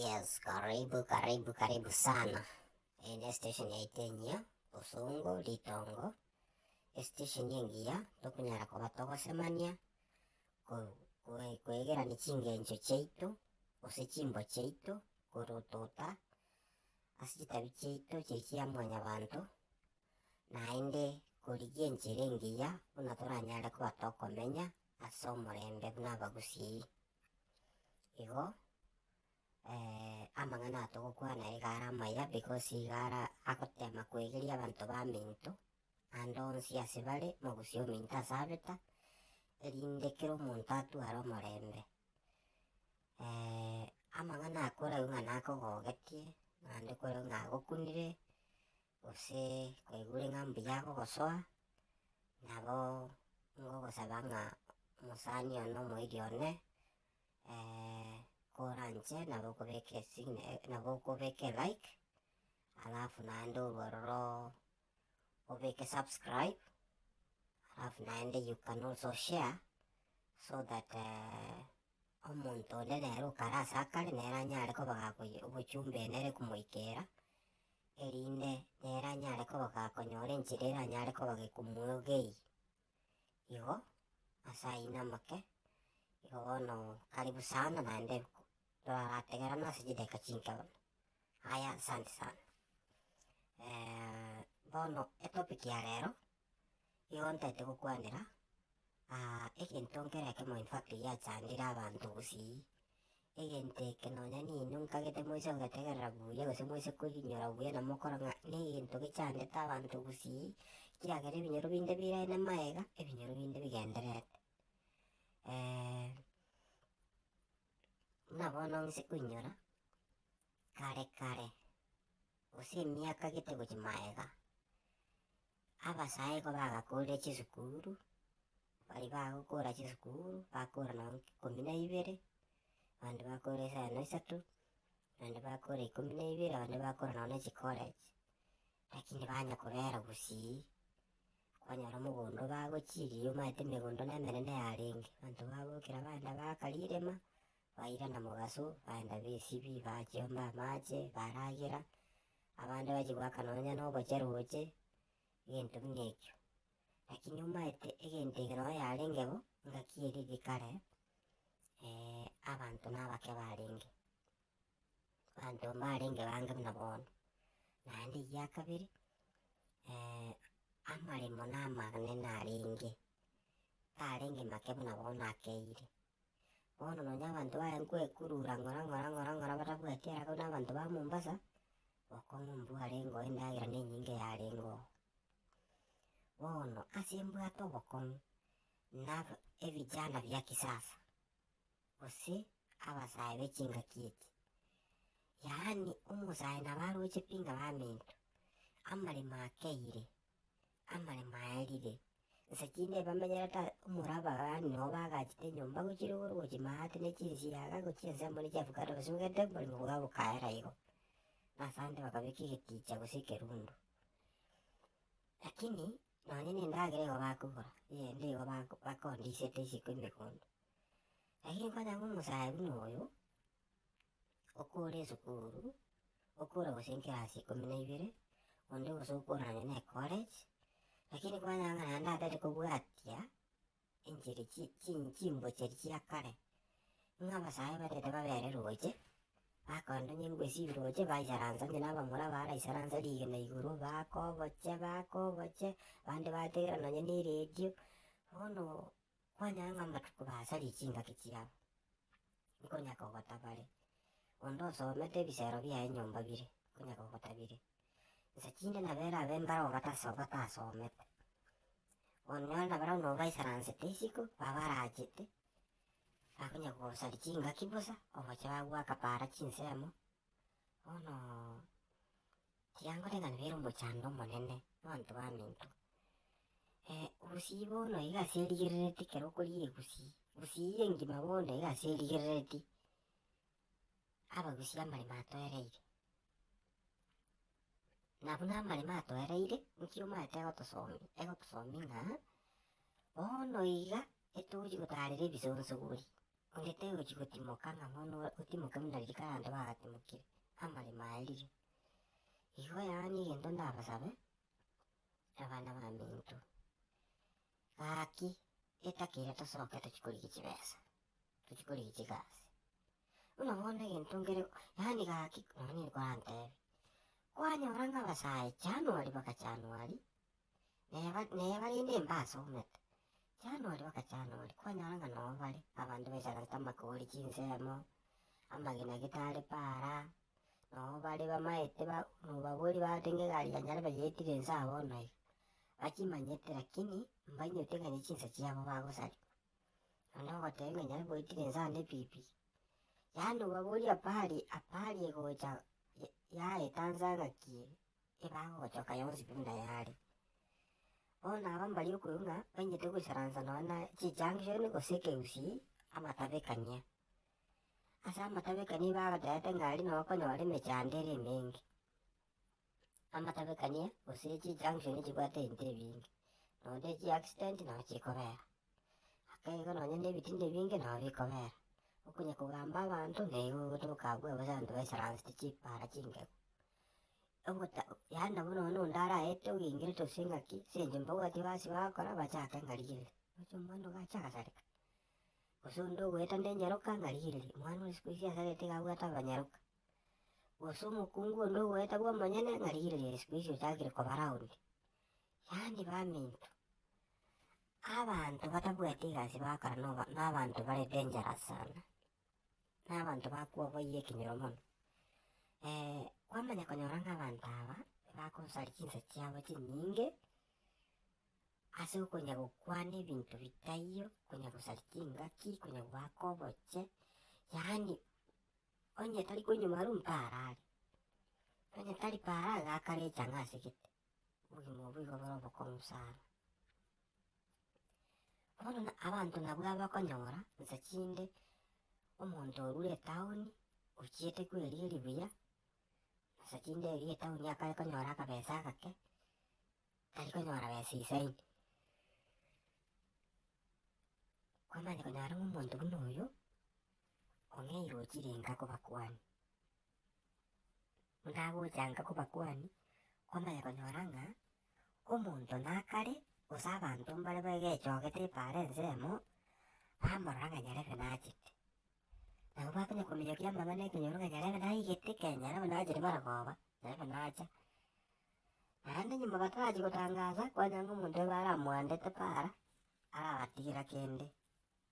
Yes karibu karibu karibu sana, eye ne station yaito enyia bosongo ritongo, estation engiya tokonyara koba togosemania, ko- ko- koegerani chingencho chiaito, gose chimbo chiaito, korotota ase chitabi chiaito chiri chia mwanyabanto, naende korigia enchera engiya buna toranyare koba tokomenya. as'omorembe buna abagusii. Igo amang'ana aya togokwana iga are amaya because iga ara agotema koegeria abanto baminto ande onsi ase bare mogusia ominto ase abeta erinde kera omonto atue are omorembe. amang'ana aya koreu ng'a nakogogetie naende koreu ng'a agokunire. gose kwaigure ng'a mbuya agogosoa, nabo ngogosaba ng'a omosani one na omoiri one koranche nabo okobeke sign nabo okobeke like, alafu naende orwo ororo obeke subscribe, alafu naende you can also share so that omonto onde nere okare ase akare nere anyare koba gakoyia obochumba enere komoikera erinde nere anyare kobogaa konyora enchera eranyare kobageka omwegei. Igo ase ayio namake, igo bono karibu sana naende torarategerane ase chidakika chinke mono. Aya asante sana bono etopic ya rero Nigo ntaete gokwanera aa egento nkere ekemo in fact giachandire abanto gusii, egento eke nonya ninwe nkagete moise kogetegerera buya gose moise koyinyora buya na mokora ng'a na egento gechandete abanto gusii, kiagera ebinyoro binde birae na maega, ebinyoro binde bigendererete. buna bono nse koinyora. Kare kare, gose emiaka gete gochia magega, abasae nigo bagakorire chisukuru, baria bagokora chisukuru, bakora nonya ikomi na ibere, abande bakora isano isato, abande bakora ikomi na ibere, abande bakora nonya ne chicollege, lakini banga kobera gusii, kwanyora omogondo bagochiria omanyete emegondo nemenene yarenge, abanto babokire abana bakarirema, Baira na mogaso, baenda b'esibi, bachiomba amaache, baragera, abande bachia goaka nonya nogocha roche, egento buna ekio. Lakini omanyete egento eke nonye yarenge bo, engaki eria eri kare, abanto nabake barenge, abanto mbarenge bange buna bono. Naende egia kabere, amaremo namanene arenge, tarenge make buna bono akeire. Bono nonya abanto baye nkoekurura ng'ora ng'ora ng'ora ng'ora batabwati ere abwo nabanto ba Mombasa, okong'u mbwe arenge oo endagera nenyinge yarenge oo. Bono ase mbwate obokong'u na ebijana bia kisasa, gose abasae be chingaki echi, yaani omosae nabo aroche pi ng'a baminto, amaremo akeire. amaremo aya ribe, inse tinde bamenyerete omoraba yaani nabo bagachete enyomba gochia igoro gochia maate ne chinsiaga gochia ensemo ne chiavocado gose obwate oboremo bwabo bokaera igo. Na ase ande bakabeka egeticha gose ekerundu. Lakini nonye ne endagera igo bakogora, eyende igo bako bakondisete isiko emegondo. Lakini kwanyora ng'a omosae buna oyo. okore esukuru, okore gose enkirasi ikomi na ibere, onde gose okore nonya ne ecollege, lakini kwanyora naende atari kobwatia enchiri chi chi chimbocha echi chia kare, ng'a abasae barente babere roche, bakonde onye mbwe ase ebiroche baisaransa onye na abamura baraisaransa rigena igoro, bakoboche bakoboche, abande bategerera nonya ne eradio, bono. Kwanyora ng'a amatuko basaria chingaki chiabo, nkonya kogotabare. Onde osomete ebisero biaye nyomba bire, nkonya kogotabire. Nsa chinde nabere abe mbare obatase obatasomete. Onyore nabare buna obaisaransete isiko, babarachete, bakonya kogosaria chingaki bosa, ogocha bagoaka para chinsemo, bono. Tiankorenganabera omochando omonene nabanto baminto. Gusii bono iga ase erigerereti ekero okoria egusii, gusii eye engima bono iga ase erigerereti abagusii amaremo atoereire. Nabuna amaremo atoereire nki omanyete egotosomia, egotosomia ng'a bono iga etogochia gotarera ebisonsogori, onde tegochi gotimoka ng'a bono otimoke buna riria kare abanto bagatimokirie, amaremo aye riria. Igwa yonye egento ndabasabe, abana baminto, gaki etaka eria tosoke tochie korigia chibesa, tochie korigia chigasi, buna bono egento nkere yaani gaki nonye nkorantebi, kwanyora ng'a abasae January mpaka January Neye bare inde imbe asomete January mpaka January kwanyora ng'a noo bare abanto baichanete amakori chinsemo amagena gitari para noo bare bamaete mobabori bateba egari yane yarebe yaitire nse aa bono iga bachimanyete lakini mbainyete ng'a ne chinsa chiabo bagosaria naende ogoteba ng'a nyare goitire nse ande pi pi yaani obabori apari apari gocha yaeta nse ng'aki. ebagochoka yonsi pi buna yare. Bono aba mbaria okoigwa ng'a bachete goisaransa nonye na chijunction gose ekegusii amatabekania. Ase amatabekania bagotebete ng'a aria noo okonyora emechando ere emenge, amatabekania gose chijunction chibwate ebinto ebinge nonya ne chiaccident nabo chikobera, ake iga nonye ne ebitinda ebinge nabo bikobera. Okonya kogamba abanto naigo ogotoka abwo bosa abanto baisaransete chipara chingegu. ogota yaani buna one onde araete ogengerete gose ng'aki ase eng'encho mbabwati ebasi bagokora bachake ng'a rigiriri, gocha omwana ogacha agasareka gose onde ogoeta nde nyeroka ng'a rigiriri, omwana oyo sikuhizi asarete iga abwate abanyeroka. Gose omokungu onde ogoeta bwa omonyene ng'a rigiriri ere sikuhizi ochakire koba roundi. Yaani baminto, abanto batabwati egasi bagokora noba nabanto bare dangerous sana. na abanto bakwo baire ekenyoro mono. kwamanya konyora ng'a abanto aba bagosaria chinsa chiabo chinyinge ase okonya gokwana ebinto bitaiyo, konya gosaria chingaki, konya goaka oboche, yaani onye tari koinywa marwa mparaare, onye tari paraara gaka richa ng'a ase gete. obogima obwo igo bore obokong'u sana. Bono na abanto nabwo abakonyora nsa chinde omonto orure etaoni ochiete kweria eribuya, nsa chinde eria etaoni akare konyora akabesa agake, tari konyora besa isaini. Kwamanya konyora ng'a omonto buna oyo, ong'eire ochire enka kobakuani. Nagochanga kobakuani, kwamanya konyora ng'a omonto nakare gose abanto mbare begechogete epaara ensemo, bamorora ng'a nyarebe nachete. Nabo bakonya kominyokia amang'ana ekenyoro ng'a nyarebe naigete ekero nyarebe nachete bare koba, nyarebe nacha. Naende nyomba batarachia gotangaasa, kwanyora ng'a omonto oyo baramoandete paara, arabatigera kende.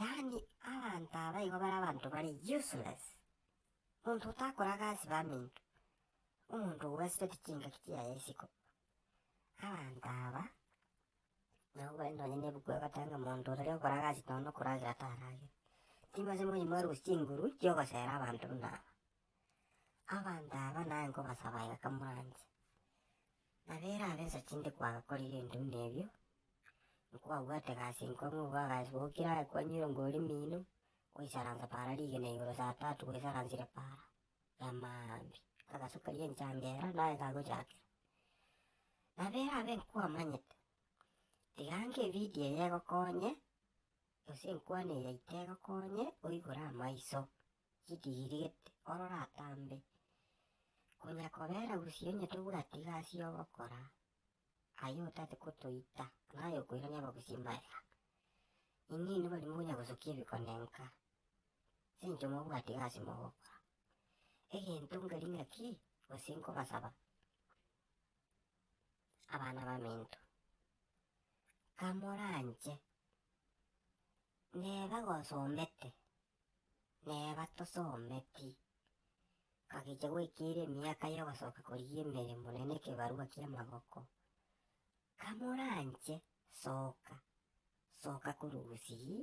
Yaani abanto aba igo bare abanto bare useless, monto otakora gasi baminto, omonto obwesibeti chingaki chiaye isiko. Abanto aba nabo ogwete nonye ne ebuku egoteba monto ore gokora gasi nonya na okoragera taragere, timbache moyi morusie chinguru chia ogosera abanto buna aba. Abanto aba naye nkobasaba iga kamoranche, Nabo erabe ensa chinde kwagakorire ebitunwa ebio, nkwabwate egasi enkong'u bw'agasi gokire aye kwanyire omori mino, goisaransa para rigena igoro saa tatu bwesaransire para ya maambia, agasu karia enchangera naye kagochakera. Nabo erabe nkwamanyete, tiga nka evidio eye egokonye, gose enkwana eye yaito egokonye oigure amaiso. chikigirigete ororatambe, konya kobera gusii onye tobwati egasi yogokora aye otate gotoita naye okoirania abagusii mbayaga. Inee nigo rimo onya gosokia ebikonenka chincho mobwati egasi mogokora? Egento nkeri ngaki gose nkobasaba abana baminto, kamoranche neba gosomete nere batosometi. Gakicha goikera emiaka y'ogosoka koria emeremo na nekebarua ki'amaboko. Kamoranche, soka, soka korwa Gusii,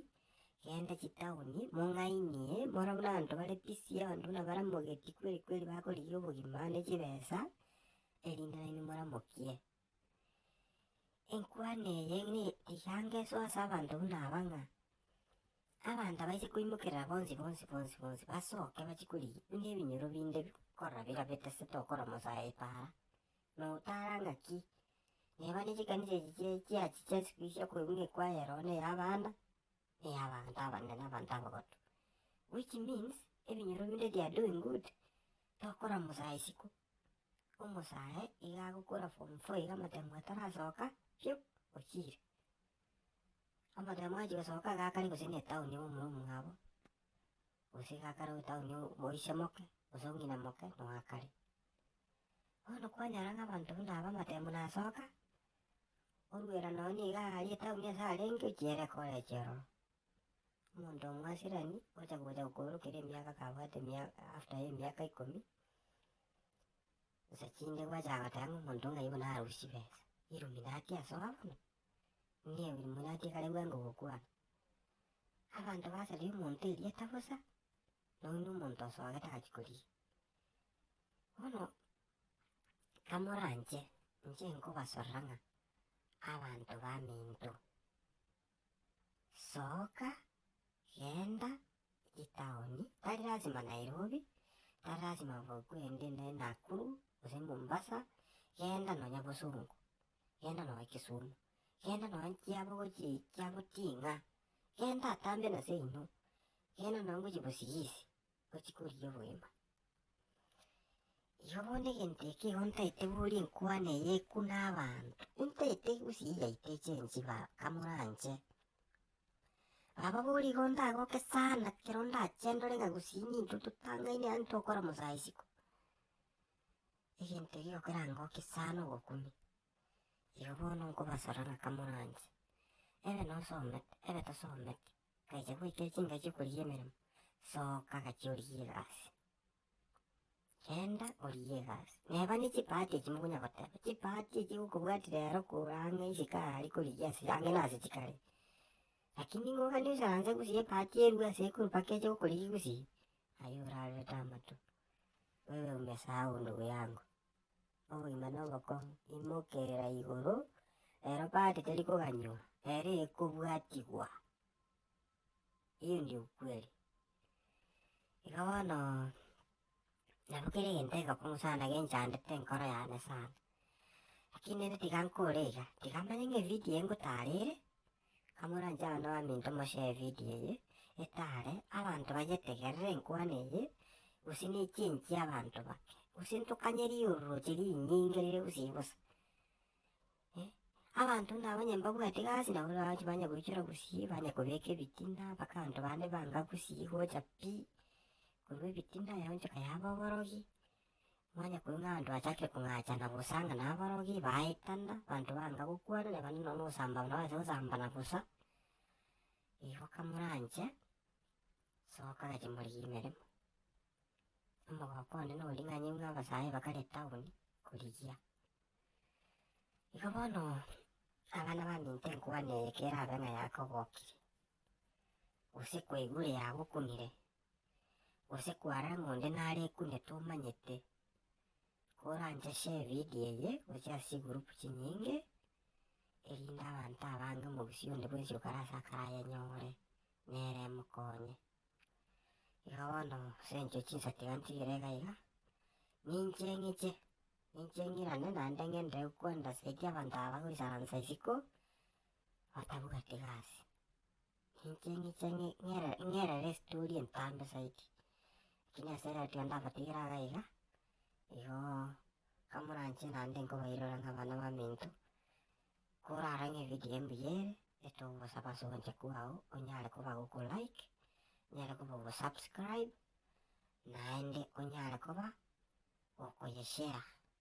genda chitaoni, mong'ainie, more buna abanto bare busy, abanto buna baramogeti kweri kweri bakorigia obogima ande chibesa, erinde nainwe moramokie. Enkwana eye nigange so ase abanto buna aba ng'a, abanto abaise koimokerera bonsi bonsi bonsi bonsi basoke bachie korigia buna ebinyoro binde bikorora bira bitasete okora mosae paara. Na otara ng'aki, neba ne chikanisa echi chia chiachi chia isiko echi chia koigwa ng'a ekwaya ero ne ya abana, ne ya abanto abanene na abanto abagotu. Which means, ebinyoro binde they are doing good, tokora mosae isiko. omosare iga agokora form four iga motemo atarasoka piu ochire. Omotemo achi gosoka iga akare gose ne town ime omoro omong'abo gose iga akare gochia town moise moke gose ong'ina moke noo akare. Bono kwanyora ng'a abanto buna aba amatemo nasoka, orwera nonye iga aria etown ase arenge ochiere koreche ororo. omonto omwasirani ocha gocha gokoorokeria emiaka kabwate emiaka after emiaka ikomi, nsa chinde gwachaka goteba ng'a omonto ng'a oyo bono arusie chibesa, illuminati asoa bono? Nigo illuminati ekare bwango gokwana. Abanto basaria omonto erieta bosa, nonya buna omonto osoa gete agachia koria. Bono kamoranche, inche nkobasorera ng'a abanto baminto. Soka, genda etaoni, tari lasima Nairobi, tari lasima bogende ne Nakuru, gose Mombasa, genda nonya Bosungu, genda nonya Kisumu, genda nonya chiabo gochia chiabo ting'a, genda atambe nase inwe, genda nonya gochia Bosigisi. gochia korigia oboima. Igo bono egento eke igo ntaete boria enkwana eye ekwe na abanto, intaete gose eyio yaito echensi baba kamoranche. Baba boria igo ndagoke sana ekero ndachendore ng'a gose nintwe totangaine yaani tokora mosae isiko, egento ekio kerangokie sana ogokumia. Igo bono nkobasaba ng'a kamoranche, ebe nosomete, ebe tosometi. Agachia goika chingaki korigia emeremo, soka gachia origie egasi, genda origie egasi. Neba ne chipahati echi mokonya goteba, chipahati echi gokobwatia rero kora ang'e isiko aya aria korigia ase ang'e nase chikare. Lakini nigo ogende osaranse gusii ebahati erue ase ekuru mpaka eche gokorigia gusii, aye orarorete amato, wewe umesahau ndugu yangu. oboima na obokong'u, imokerera igoro, ero party teri koganywa, ero ekobwatigwa, eyio ndio ukweli. Iga bono nabo kera egento egekong'u sana genchandete enkoro yane sana, lakini rende tiga nkore iga, tiga manye ng'a evidio eye ngotarire. Amoranche abanto baminto moshare video eye etare abanto bayetegerere enkwano eye gose ne change ya abanto bake gose ntokanye riororoche rinyinge rire gusii bosa eh abanto nabo onye mbabwati gasi nabo nabagochi banya goichora gusii banya kobeka ebitina mpaka abanto bande banga gusii gocha pi korwa ebitina yaonchoka yaba oborogi. Manye koing'anto achake kong'acha na gosanga naborogi baye ekanda, abanto banga gokwana na bande nonya ogosamba nabache gosambana bosa, igo kamoranche soka agache morigire emeremo. Omogoko onde na oboring'anyi buna abasae bakare etaoni korigia. Igo bono abana baminto enkwana eye kerabe ng'a yakogokire, gose kwaigure yagokunire. gose kwara ng'a onde nare ekune tomanyete, koranche share evidio eye gochia ase chigroup chinyinge, erinde abanto abange omogusii onde bwensi okare ase akare ayenyore, nere emokonye. Igo bono ase eng'encho ye chinsati iga ntigire iga iga, ninche ng'iche, ninche ng'irane naende ng'ende gokwenda saidi abanto aba bagoisaransa isiko, batabuga tigasi. Inche inche ngerere estori entambe zaidi, lakini ase ere ratiga ndabatigere iga iga, igo kamoranche naende nkobairora ng'a abana baminto, korara ng'a evidio embuya ere, etogosaba ase ogocha kwao onyare koba goku like, onyare koba ogo subscribe, naende onyare koba okoye share.